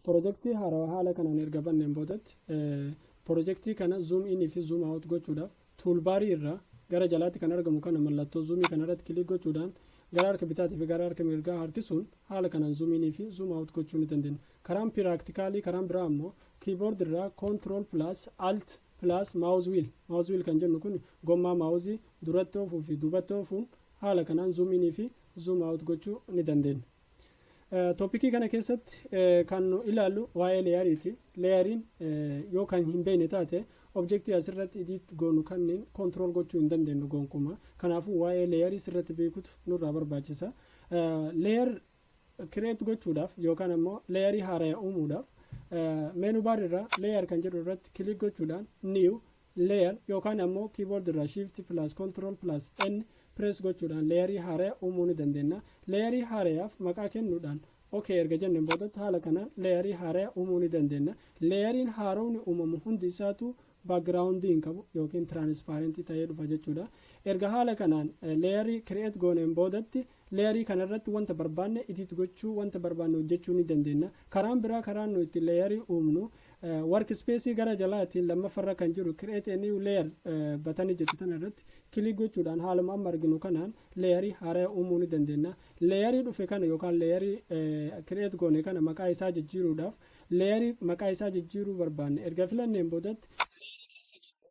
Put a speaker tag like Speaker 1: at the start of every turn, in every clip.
Speaker 1: Pirojektii haarawaa haala kanaan erga banneen boodatti pirojektii kana zoom in fi zoom out gochuudhaaf tuulbaarii irraa gara jalaatti kan argamu kana mallattoo zoomii kana irratti kilik gochuudhaan gara harka bitaatii fi gara harka mirgaa harkisuun haala kanaan zoom in fi zoom out gochuu ni dandeenya. Karaan piraaktikaalii karaan biraa ammoo kiiboord irraa control plus alt plus mouse wheel mouse wheel kan jennu kun gommaa maawuzii duratti oofuu fi duubatti oofuu haala kanaan zoom in fi zoom out gochuu ni dandeenya. Toopikii kana keessatti kan nu ilaallu waa'ee leeyariiti. Leeyariin yoo kan hin beekne taate objektii asirratti idiit goonu kanneen kontirool gochuu hin dandeenyu gonkumaa. Kanaafuu waa'ee leeyarii sirratti beekutu nurraa barbaachisa. Leeyar kireet gochuudhaaf yookaan ammoo leeyarii haaraya uumuudhaaf meenuu baar irraa leeyar kan jedhu irratti kilik gochuudhaan niiw Layer yookaan ammoo keyboard irraa shift plus control plus N press gochuudhaan leeyarii haaraya uumuu ni dandeenya. Leeyarii haarayaaf maqaa kennuudhaan ok erga jenneen boodatti haala kanaan leeyarii haaraya uumuu ni dandeenya. Leeyariin haarowni uumamu hundi isaatuu background hin qabu yookiin transparent ta'ee dhufa jechuudha. Erga haala kanaan leeyarii create gooneen boodatti Layer kana irratti wanta barbaanne edit gochuu, wanta barbaanne hojjechuu ni dandeenna. Karaan biraa karaan nu itti layer uumnu workspace gara jalaatiin lammaffa irra kan jiru create a new layer batanii jettu tana irratti click gochuudhaan haaluma amma arginu kanaan layer haaraya uumuu ni dandeenna. Layer dhufe kana yookaan layer create goone kana maqaa isaa jijjiiruudhaaf layer maqaa isaa jijjiiruu barbaanne erga filanneen boodatti layer keessa gallee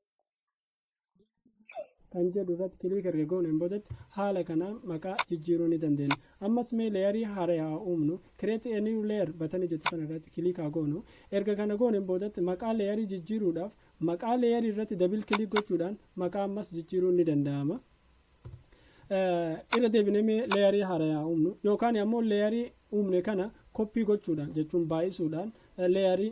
Speaker 1: kan jedhu irratti kiliik erga gooneen boodatti haala kanaan maqaa jijjiiruu ni dandeenya. Ammas mee leeyarii haaree haa uumnu. Create a new layer batanii jettu kana irratti kiliik haa goonu. Erga kana gooneen boodatti maqaa leeyarii jijjiiruudhaaf maqaa leeyarii irratti dabil kiliik gochuudhaan maqaa ammas jijjiiruun ni danda'ama. irra deebinee mee leeyarii haarayaa uumnu yookaan ammoo leeyarii uumne kana koppii gochuudhaan jechuun baay'isuudhaan leeyarii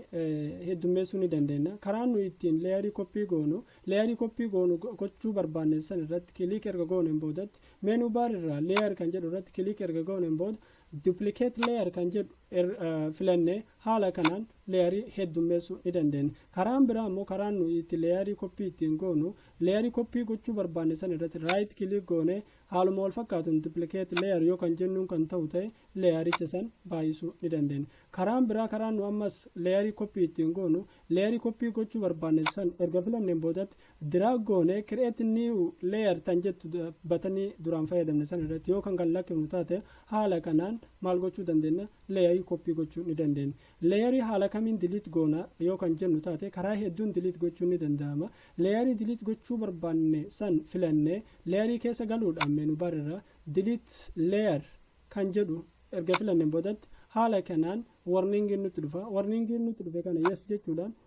Speaker 1: heddummeessuu ni dandeenya. Karaan nuyi ittiin leeyarii koppii goonu leeyarii koppii goonu gochuu barbaanne san irratti kiliik erga gooneen boodatti meenuu baar irraa leeyar kan jedhu irratti kiliik erga gooneen booda Duplicate layer kan jedhu filanne haala kanaan layer heddummeessuu ni dandeenya. Karaan biraa immoo karaan nuyi itti layer copy ittiin goonu layer copy gochuu barbaanne san irratti right click goonee haaluma wal fakkaatuun duplicate layer yoo kan jennuun kan ta'u ta'e layericha san baay'isuu ni dandeenya. Karaan biraa karaan nu ammas layer copy ittiin goonu layer copy gochuu barbaanne san erga filanneen boodatti Drag goone create new layer tan jettu batanii duraan fayyadamne sana irratti yoo kan kan lakkifnu taate haala kanaan maal gochuu dandeenya layerii copy gochuu ni dandeenya. Layerii haala kamiin delete goona yoo kan jennu taate karaa hedduun delete gochuun ni danda'ama. Layerii delete gochuu barbaanne san filannee layerii keessa galuudhaan menu bar irraa delete layer kan jedhu erga filanneen boodatti haala kanaan warningiin nutti dhufa. Warningiin nutti dhufe kana yes jechuudhaan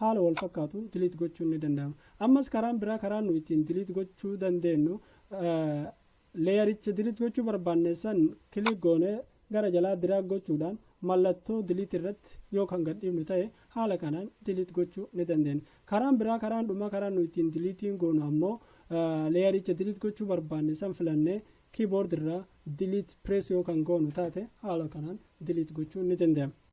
Speaker 1: haala wal fakkaatuun delete gochuun ni danda'ama. Ammas karaan biraa karaan nu ittiin delete gochuu dandeenyu leeyaricha delete gochuu barbaanne san click goonee gara jalaa drag gochuudhaan mallattoo delete irratti yoo kan gadhiifnu ta'e haala kanaan delete gochuu ni dandeenya. Karaan biraa karaan dhumaa karaan nu ittiin deleting goonu ammoo leeyaricha delete gochuu barbaanne san filannee keyboard irraa delete press yoo kan goonu taate haala kanaan delete gochuu ni danda'ama.